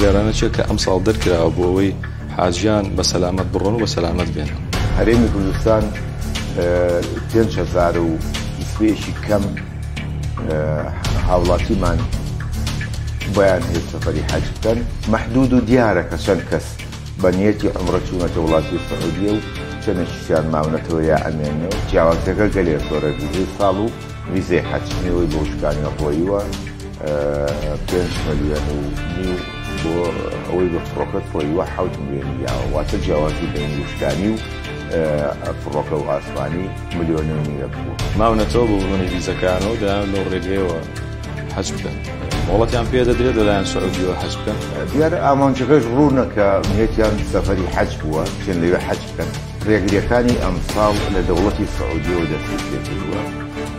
بڕیارانە چێت کە ئەم ساڵ دەرکراوە بۆ ئەوەی حاجیان بە سەلامت بڕۆن و بە سەلامت بێن هەرێمی کوردستان پێنج هزار و سپێشی کەم هاوڵاتیمان بۆیان هێت سەفەری حەج بکەن مەحدود و دیارە کە چەند کەس بە نیەتی عومرە چوونەتە وڵاتی سعودیە و چەنێکیشیان ماونەتەوە یا ئەمێنن و جیاوازیەکە گەلێ زۆرە ڤیزەی ساڵ و ڤیزەی حەج نێوەی بۆ شکانی ڕۆیوە پێنج ملیۆن و نیو بۆ ئەوەی بە فڕۆکەت ڕۆیوە حوت ملیۆنی یاوە واتە جیاوازی بین وشکانی و فڕۆکە و ئاسمانی ملیۆنی نیوە بوو ماونەتەوە بۆ بڕۆنی ڤیزەکان و دەیان لەو ڕێگەیەوە حەج بکەن مۆڵەتیان پێ دەدرێت لەلایەن سعودیەوە حەج بکەن دیارە ئامانجەکەش ڕوونە کە نیەتیان سەفەری حەج بووە چێن لەوێ حەج بکەن ڕێگریەکانی ئەمساڵ لە دەوڵەتی سعودیەوە دەستی پێ کردووە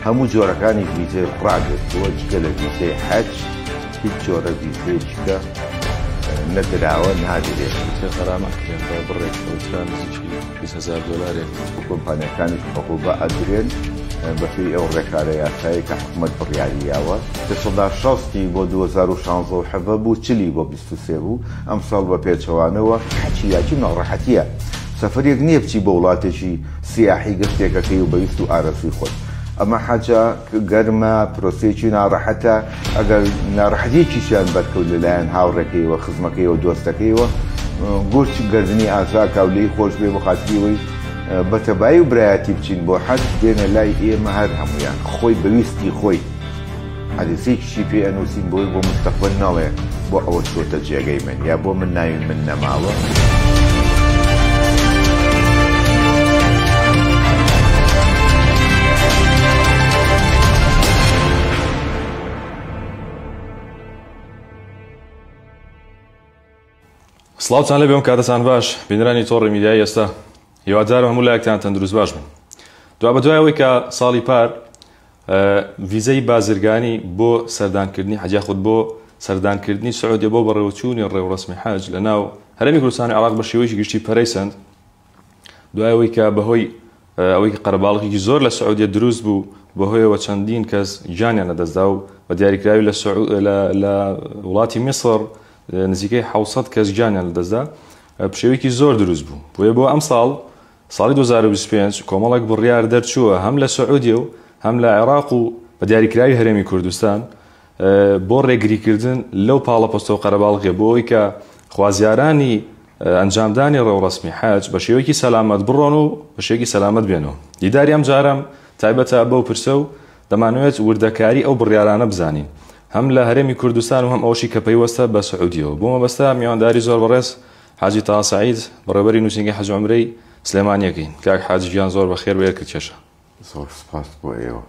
هەموو جۆرەکانی ویزەی ڕاگرتووە جگە لە ویزەی حەج هیچ جۆرە ویزەیەکە نەدراوە نادرێت ویزە غەرامە کرێن بە بڕێک کەوترا نزیکی بیست هەزار دۆلارێک بە کۆمپانیاکانی کهربا ئەدرێن بەپێی ئەو ڕێکارە یاسایەی کە حکومەت بڕیاری یاوە. پێشەڵدا شەستی بۆ دوو هەزار و شانزە و حەڤە بوو، چلی بۆ بیست و سێ بوو. ئەمساڵ بە پێچەوانەوە. حەکی یاکی و ناڕەحەتییە. سەفەرێک نییە بچی بۆ وڵاتێکی سیاحی گەشتێکەکەی و بە ویست و ئارەزووی خۆت. ئەمە حەجە، گەرمە، پرۆسەیەکی ناڕەحەتە. ئەگەر ناڕەحەتیەکیشیان بەرکەوت لە لایەن هاوڕێکەیەوە خزمەکەیەوە دۆستەکەیەوە گورچ گردنی ئازاکاو لێی خۆش بێ بۆ خاتریەوەی بە تەبایی و برایەتی بچین بۆ حەج بێنە لای ئێمە هەر هەمویان خۆی بە ویستی خۆی حەدیسێکیشی پێ ئەنووسین بۆی بۆ مستەقبەل نەڵێ بۆ ئەوە چۆتە جێگەی من یا بۆ من ناوی من نەماوە. سڵاوتان لەبێ ئەم کاتەتان باش بینرانی تۆڕی میدیای ئێستا هیوادارم هەموو لایەکتان تەندروست باش بن دو بە دوایەوەی کە ساڵی پار ویزەی بازرگانی بۆ سەردانکردنی حەجیا خود بۆ سەردانکردنی سعودیە بۆ بەڕێوەچوونی ڕێوڕسمی حەج لە ناو هەرمی کوردستانی عراق بە شێوەیەکی گشتی پەرەی سند دوای ئەوەی کە بەهۆی ئەوەی کە قەرەباڵغێکی زۆر لە سعودیە دروست بوو بەهۆیەوە چەندین کەس گیانیان لەدەستدا و بە دیاریکراوی لە لە وڵاتی میسر نزیکەی حوسەد کەس گیانیان لەدەستدا پشێویکی زۆر دروست بوو بۆیە بۆ ئەم ساڵ ساڵی 2025 کۆمەڵک بڕیار دەرچووە هەم لە سعودیە و هەم لە عێراق و بە دیاریکراوی هەرێمی کوردستان بۆ ڕێگریکردن لەو پاڵەپەستۆ قەرەباڵغێ بۆ ئەوەی کە خوازیارانی ئەنجامدانی ڕێوڕەسمی حەج بە شێوەیەکی سەلامەت بڕۆن و بە شێوەیەکی سەلامەت بێن و دیداری ئەمجارە تایبەتە بەو پرسە و دەمانەوێت وردەکاری ئەو بڕیارانە بزانین هەم لە هەرێمی کوردستان و هەم ئەوەشی کە پەیوەستە بە سعودیەوە بۆ مەبەستە میوانداری زۆر بەڕێز حاجی تاها سعید بەڕێوەبەری نووسینگەی حەج و عەمرەی سلێمانیەکەین کاک حاجی گیان زۆر بەخێر و ئێرکت کێشە زۆر سپاس بۆ ئێوە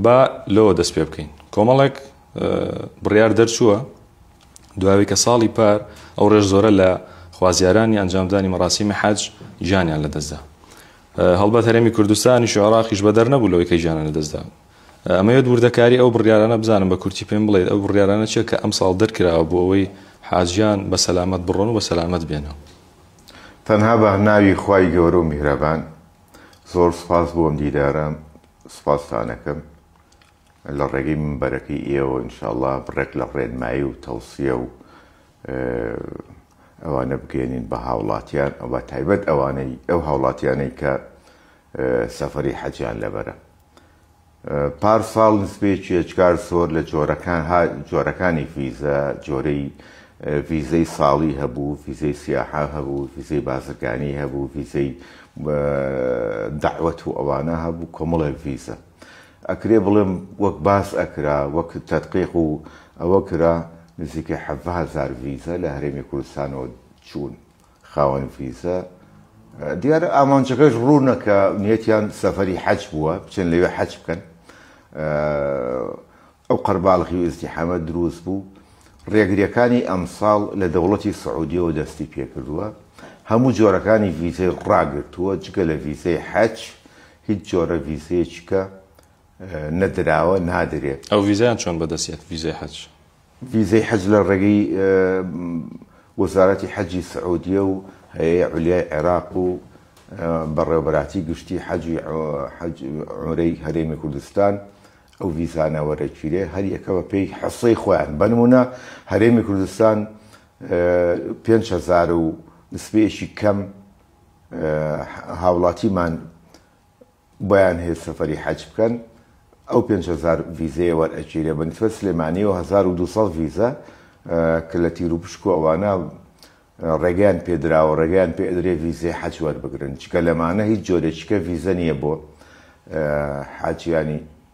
با لەوە دەست پێ بکەین کۆمەڵێک بڕیار دەرچووە دوای کە ساڵی پار ئەو ڕێژ زۆرە لە خوازیارانی ئەنجامدانی مەراسیمی حەج گیانیان لەدەستدا هەڵبەت هەرێمی کوردستانیش و عێراقیش بەدەر نەبوو لەوەی کە گیانە لەدەستدا ئەمەوێت وردەکاری ئەو بڕیارانە بزانم بە کورتی پێم بڵێت ئەو بڕیارانە چیە کە ئەم ساڵ دەرکراوە بۆ ئەوەی حاجیان بە سەلامەت بڕۆن و بە سەلامەت بێنەوە تەنها بە ناوی خوای گەورە و میهرەبان زۆر سوپاس بۆ ئەم دیدارە سوپاستانەکەم لە ڕێگەی مەمبەرەکەی ئێوەوە ان شاء اللە بڕێک لە ڕێنمایی و تەوسیە و ئەوانە بگەیەنین بە هاوڵاتیان و بە تایبەت ئەوانەی ئەو هاوڵاتیانەی کە سەفەری حەجیان لەبەرە پار ساڵ نسبەی چێچکار زۆر لە جۆرەکان جۆرەکانی ڤیزە جۆرەی ڤیزەی ساڵی هەبوو ڤیزەی سیاحا هەبوو ڤیزەی بازرگانی هەبوو ڤیزەی داوەت و ئەوانە هەبوو کۆمەڵێک ڤیزە ئەکرێ بڵێم وەک باس ئەکرا وەک تەدقیق و ئەوە کرا نزیکەی حەڤە هەزار ڤیزە لە هەرێمی کوردستانەوە چوون خاوەن ڤیزە دیارە ئامانجەکەش ڕوونە کە نیەتیان سەفەری حەج بووە بچن لەوێ حەج بکەن ئەو قەرباڵخی و ئزدیحامە دروست بوو ڕێگریەکانی ئەمساڵ لە دەوڵەتی سعودیەوە دەستی پێکردووە هەموو جۆرەکانی ڤیزەی ڕاگرتووە جگە لە ڤیزەی حەج هیچ جۆرە ڤیزەیەکی کە نەدراوە نادرێت. ئەو ڤیزایان چۆن بەدەست یەت ڤیزەی حەج؟ ڤیزەی حەج لە ڕێگەی وەزارەتی حەجی سعودیە و هەیئەی عولیای عێراق و بەڕێوەبەراتی گشتی حەج و عومرەی هەرێمی کوردستان ئەو ڤیزانە وەرەگیرێ هەر یەکە بە پێی حەصەی خۆیان بە نمونە هەرێمی کوردستان پێنج هەزار و نسبەیەکی کەم هاوڵاتیمان بۆیان هەیە سەفەری حەج بکەن ئەو پێنج هەزار ڤیزەیە وەرئەگیرێ بە نسبەت سلێمانی و هەزار و دووسەد ڤیزە کە لە تیر و پشک و ئەوانە ڕێگەیان پێدراوە ڕێگەیان پێ ئەدرێ ڤیزەی حەج وەربگرن چکە لەمانە هیچ جۆرێکیکە ڤیزە نییە بۆ حاجیانی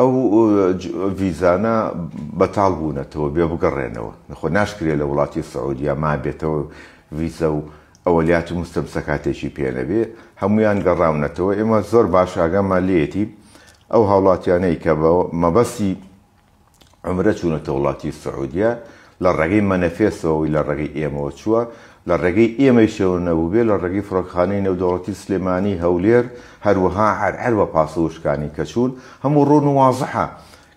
ئەو ڤیزانە بەتاڵ بوونەتەوە بێ بگەڕێنەوە خۆ ناشکرێت لە وڵاتی سعودیە مابێتەوە ڤیزە و ئەوەلیات و موستەمسەکاتێکی پێ نەبێ هەموویان گەڕاونەتەوە ئێمە زۆر باش ئاگامان لێیەتی ئەو هاوڵاتیانەی کە بە مەبەسی عەمرە چوونەتە وڵاتی سعودیە لە ڕێگەی مەنەفێسەوە ی لە ڕێگەی ئێمەوە چووە، لە ڕێگەی ئێمەیشەوە نەبووبێ لە ڕێگەی فڕۆکەخانەی نێودەوڵەتی سلێمانی، هەولێر، هەروەها عەرعەر و پاسە وشکانی کە چوون، هەموو ڕوون و وازحە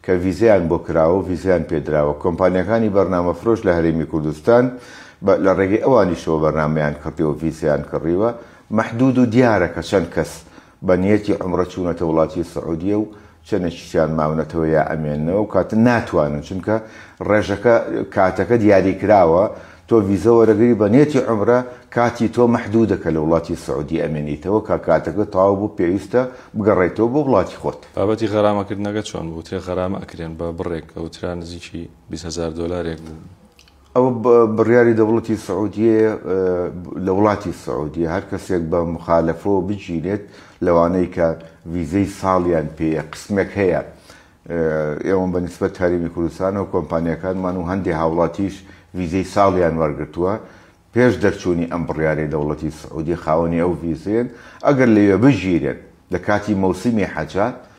کە ڤیزەیان بۆ کراوە و ڤیزەیان پێ دراوە، کۆمپانیاکانی بەرنامەفرۆش لە هەرێمی کوردستان بە لە ڕێگەی ئەوانیشەوە بەرنامەیان کڕیوە و ڤیزەیان کڕیوە، مەحدوود و دیارە کە چەند کەس بە نیەتی عومرە چوونەتە وڵاتی سعودیە و چەنێکیشیان ماونەتەوە یا ئەمێننەوە و کاتە ناتوانن چونکە ڕێژەکە کاتەکە دیاری کراوە تۆ ڤیزە وەرەگری بە نیەتی عومرە کاتی تۆ مەحدودە کە لە وڵاتی سعودی ئەمێنیتەوە کە کاتەکە تەواو بوو پێویستە بگەڕێیتەوە بۆ وڵاتی خۆت. بابەتی غەرامە کردنەکە چۆن بوو؟ وترێ غەرامە ئەکرێن بە بڕێک ئەوترا نزیکی بیست هەزار دۆلارێک بوو. ئەوە بڕیاری دەوڵەتی سعودیەیە لە وڵاتی سعودیە هەر کەسێک بە مخالەفەوە بگیرێت لەوانەی کە ڤیزەی ساڵیان پێیە قسمێک هەیە ئێوەم بە نسبەت هەرمی کوردستان و کۆمپانیەکانمان و هەندێک هاوڵاتیش ڤیزەی ساڵیان وەرگتووە پێش دەرچوونی ئەم بڕیارەی دەوڵەتی سعودی خاوەنی ئەو ڤیزێن ئەگەر لەوێ بگیرێن لە کاتی مەوسیمی حەجات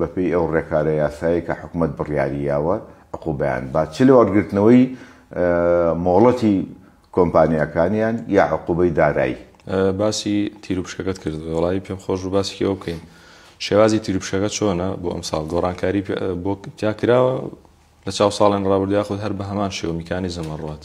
بەپێی ئەو ڕێکارە یاسایەی کە حکومەت بڕیاری یاوە عقوبەیان با چ لەوەرگرتنەوەی مۆڵەتی کۆمپانیاکانیان یا عقوبەی دارایی. باسی تیرو پشکەکەت کرد وەڵایی پێم خۆش بوو باسی ئەوە بکەین شێوازی تیرو پشکەکە چۆنە بۆ ئەم ساڵ گۆڕانکاری بۆ تیا کراوە لە چاو ساڵێن ڕابردوو یاخود هەر بە هەمان شێوە میکانیزم ئەڕوات؟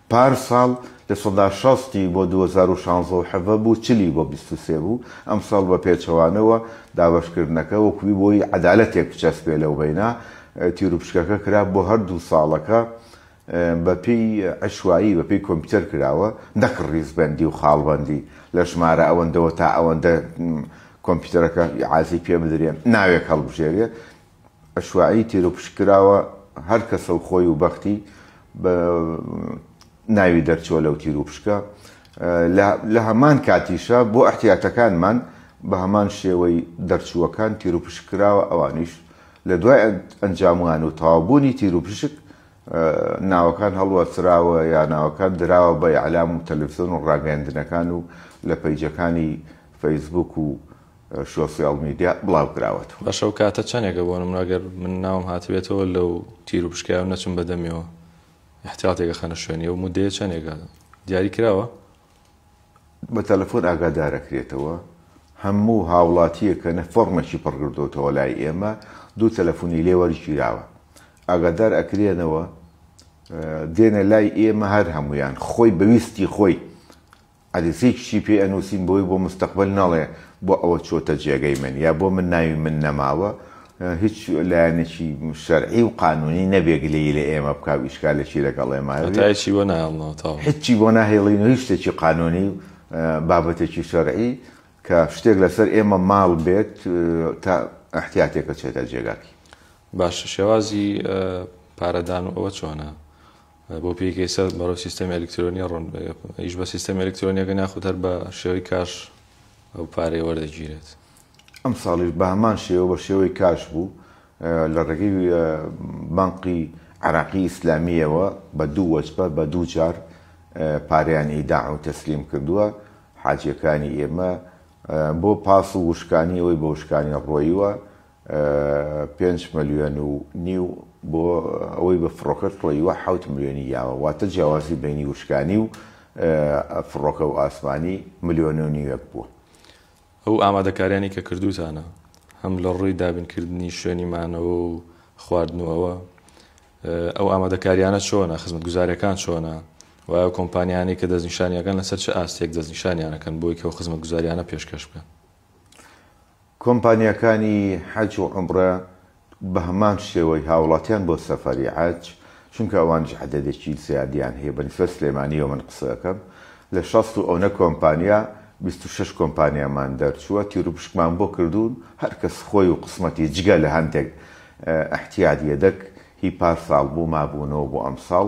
پار ساڵ لە سەدا شەستی بۆ دوو هەزار و شانزە و حەڤە بوو چلی بۆ بیست و سێ بوو، ئەم ساڵ بە پێچەوانەوە دابەشکردنەکە وەکوی بۆی عەدالەتێک بچەسپێ لەو بەینا تیروپشکەکە کرا بۆ هەر دوو ساڵەکە بە پێی عەشوایی بە پێی کۆمپیوتەر کراوە نەک ڕیزبەندی و خاڵبەندی لە ژمارە ئەوەندەوە تا ئەوەندە کۆمپیوتەرەکە ئیعازەی پێ بدرێ ناوێک هەڵبژێرێ ئەشواعی تیروپشک کراوە هەر کەسە و خۆی و بەختی بە ناوی دەرچووە لەو تیروپشکە لە هەمان کاتیشە بۆ ئەحتیاتەکانمان بە هەمان شێوەی دەرچووەکان تیروپشک کراوە ئەوانیش لە دوای ئەنجاموان و تەوابوونی تیروپشک ناوەکان هەڵوەسراوە یا ناوەکان دراوە بە ئەعلام و تەلەفزیۆن و ڕاگەیاندنەکان و لە پەیجەکانی فەیسبوک و شۆسیال میدیا بڵاوکراوەتەوە. باشە ئەو کاتە چەنێکە بۆ نمونە گەر من ناوم هاتبێتەوە لەو تیرو پشکایەو نەچم بە دەمیەوە ئیحتیاتێک ئەخەنە شوێنی ئەو مودەیە چەنێکە دیاری کراوە؟ بە تەلەفۆن ئاگادارەکرێتەوە هەموو هاوڵاتیەک کە نە فۆڕمێکی پڕکردۆتەوە لای ئێمە دوو تەلەفونی لێ وەرگیراوە ئاگادار ئەکرێنەوە دێنە لای ئێمە هەر هەموویان خۆی بە ویستی خۆی عەدسەی کچی پێی ئەنووسین بۆی بۆ مستەقبەل نەڵێ بۆ ئەوە چۆتە جێگەی من یا بۆ من ناوی من نەماوە هیچ لایەنێکی شەرعی و قانوونی نەبێ گلەیی لە ئێمە بکا و ئیشکالێکی لەگەڵ ئێمە هەبێ هەتا هیچی بۆ نایڵنەوە تەواو هیچی بۆ ناهێڵین و هیچ شتێکی قانوونی و بابەتێکی شەرعی کە شتێک لەسەر ئێمە ماڵ بێت تا ئیحتیاتێک ئەچێتە جێگاکی. باشە شێوازی پارەدان و ئەوە چۆنە؟ بۆ پێیەکی ئێستا بەرەو سیستەمی ئەلیکترۆنیە ڕۆن بەگەپ ئیش بە سیستەمی ئەلیکترۆنیەکە ناخود هەر بە شێوەی کاش ئەو پارەی وەردەگیرێت. ئەم ساڵیش بە هەمان شێوە بە شێوەی کاش بوو لە ڕێگەی بانقی عێراقی ئیسلامییەوە بە دوو وەجبە بە دوو جار پارەیان ئیداع و تەسلیم کردووە حاجییەکانی ئێمە بۆ پاس و وشکانی ئەوەی بە وشکانی ڕۆیوە پێنج ملیۆن و نیو بۆ ئەوەی بە فڕۆکەت کڵەیوە حەوت ملیۆنی یاوە واتە جیاوازی بەینی وشکانی و فڕۆکە و ئاسمانی ملیۆن و نیوێک بووە. ئەو ئامادەکاریانەی کە کردووتانە هەم لە ڕووی دابین کردنی شوێنی مانەوە و خواردنەوە ئەو ئامادەکاریانە چۆنە خزمەتگوزاریەکان چۆنە و ئەو کۆمپانیانەی کە دەستنیشانیەکان لەسەر چ ئاستێک دەستنیشانیانەکەن بۆی کە خزمەتگوزاریانە پێشکەش بکەن. کۆمپانیاکانی حەج و عومڕە بەهەمان شێوەی هاوڵاتیان بۆ سەفەری حەج، چونکە ئەوانیش عەدەدێکی زیادیان هەیە بەنیسبەت سلێمانیەوە من قسە ئەکەم لە شەست و ئەونە کۆمپانیا بیست و شەش کۆمپانیامان دەرچووە تیروپشکمان بۆ کردوون هەرکەس خۆی و قسمەتی جگە لە هەندێک ئیحتیات یەدەک هی پارساڵ بوو مابوونەوە بۆ ئەمساڵ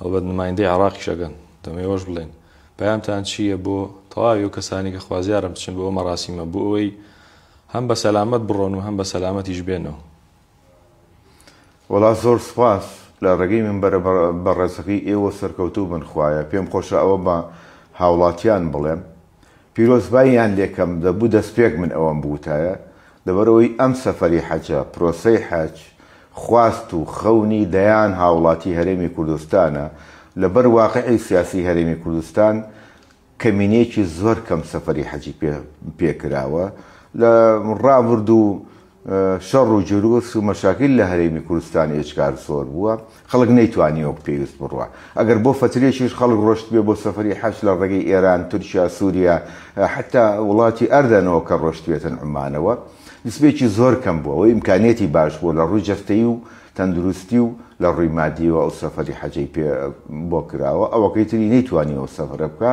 هەڵبەت نمایندەی عێڕاقیش ئەگەن. دەمەوێش بڵێن. پەیامتان چی یە بۆ تەواوی ئەو کەسانەی کە خوازیارن بچن بۆ ئەو مەراسیمە بۆ ئەوەی هەم بە سەلامەت بڕۆن و هەم بە سەلامەتیش بێنەوە؟ وەڵا زۆر سوپاس لە ڕێگەی مینبەرە بەڕێزەکەی ئێوە سەرکەوتوو بن خوایە پێم خۆشە ئەوە بە هاوڵاتیان بڵێم. پیرۆزباییان لێکەم، دەبوو دەستپێک من ئەوەم بوتایە، لەبەرئەوەی ئەم سەفەری حەجە، پرۆسەی حەج، خواست و خەونی دەیان هاوڵاتی هەرێمی کوردستانە، لەبەر واقعی سیاسی هەرێمی کوردستان کەمینەیەکی زۆر کەم سەفەری حەجی پێ پێکراوە، لە ڕابردوو شەڕ و جروس و مەشاکیل لە هەرێمی کوردستان ئێجگار زۆر بووە، خەڵک نەیتوانی وەک پێویست بڕوا. ئەگەر بۆ فەترێکیش خەڵک ڕۆشتبێ بۆ سەفەری حەج لە ڕێگەی ئێران، تورکیا، سووریا، حەتتا وڵاتی ئەردەن ەوە کە ڕۆشتبێتن عوممانەوە، نسبەیەکی زۆر کەم بووە. ئەوەی ئیمکانیەتی باش بووە لە ڕووی جەستەیی و تەندروستی و لە ڕووی مادییەوە ئەو سەفەری حەجەی پێ بۆ کراوە، ئەوەکەی تری نەیتوانی ئەو سەفرە بکا.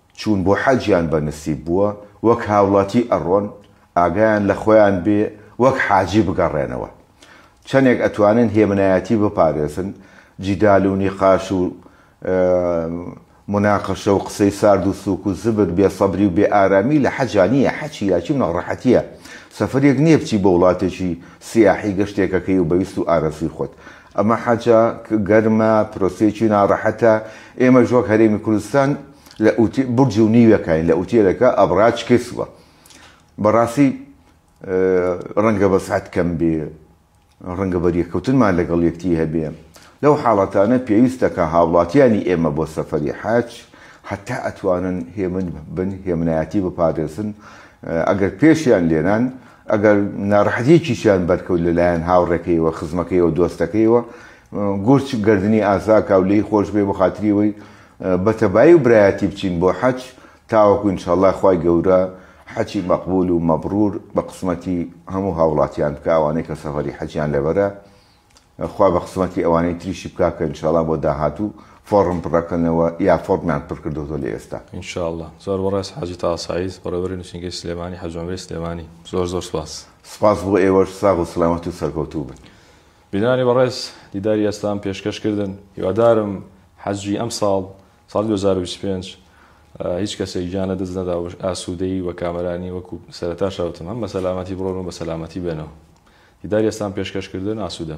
چوون بۆ حەجیان بە نسیب بووە، وەک هاوڵاتی ئەڕۆن، ئاگایان لە خۆیان بێ وەک حاجی بگەڕێنەوە. چەنێک ئەتوانن هێمنایەتی بپارێزن، جیدال و نیقاش و موناقەشە و قسەی سارد و سووک و زبر، بێ سەبری و بێ ئارامی لە حەجا نییە، حەج چیراکی و ناڕەحەتییە، سەفەرێک نییە بچی بۆ وڵاتێکی سیاحی گەشتێک ئەکەی و بە ویست و ئارەزووی خۆت ئەمە حەجە گەرمە، پرۆسەیەکی ناڕەحەتە، ئێمەش وەک هەرێمی کوردستان لە ئوتێ بورج و نیوێکاین لە ئوتێلەکە ئەبڕاج کسوە بەڕاستی ڕەنگە بە سات کەم بێ ڕەنگە بەریەکەوتنمان لەگەڵ یەکتی هەبێ لەو حاڵەتانە پێویستە کە هاوڵاتیانی ئێمە بۆ سەفەری حەج حتا ئەتوانن هێمن بن هێمنایەتی بپارێزن ئەگەر پێشیان لێنان ئەگەر ناڕەحەتییەکیشیان بەرکەوت لە لایەن هاوڕێکەیەوە، خزمەکەیەوە، دۆستەکەیەوە، گورچ گەردنی ئازاکا و لێی خۆش بێ بۆ خاتری ئەوەی بە تەبایی و برایەتی بچین بۆ حەج تاوەکو ان شاءاللە خوای گەورە حەجی مەقبول و مەبرور بە قسمەتی هەموو هاوڵاتیان بکا ئەوانەی کە سەفەری حەجیان لەبەرە. خوا بە قسمەتی ئەوانەی تریشی بکا کە انشاءاللە بۆ داهاتوو فۆڕم پڕەکەنەوە یا فۆڕمیان پڕکردۆتەوە لە ئێستا. ان شاء اللە زۆر بەڕێز حاجی تاها سەعید بەڕێوەبەری نوسینگەی سلێمانی حاجی عەمرەی سلێمانی زۆر زۆر سوپاس. سوپاس بۆ ئێوەش ساغ و سلامەت و سەرکەوتوو بن. بینەرانی بەڕێز دیداری ئێستام پێشکەش کردن هیوادارم حەجی ئەمساڵ ساڵی دوو هەزار و بیست و پێنج هیچ کەسێک گیان لەدەست نەدا و ئاسوودەی و بە کامەرانی وەکو سەرەتاشا وتم هەم بە سەلامەتی بڕۆن و بە سەلامەتی بێنەوە دیداری ئەسلام پێشکەش کردن ئاسوودە.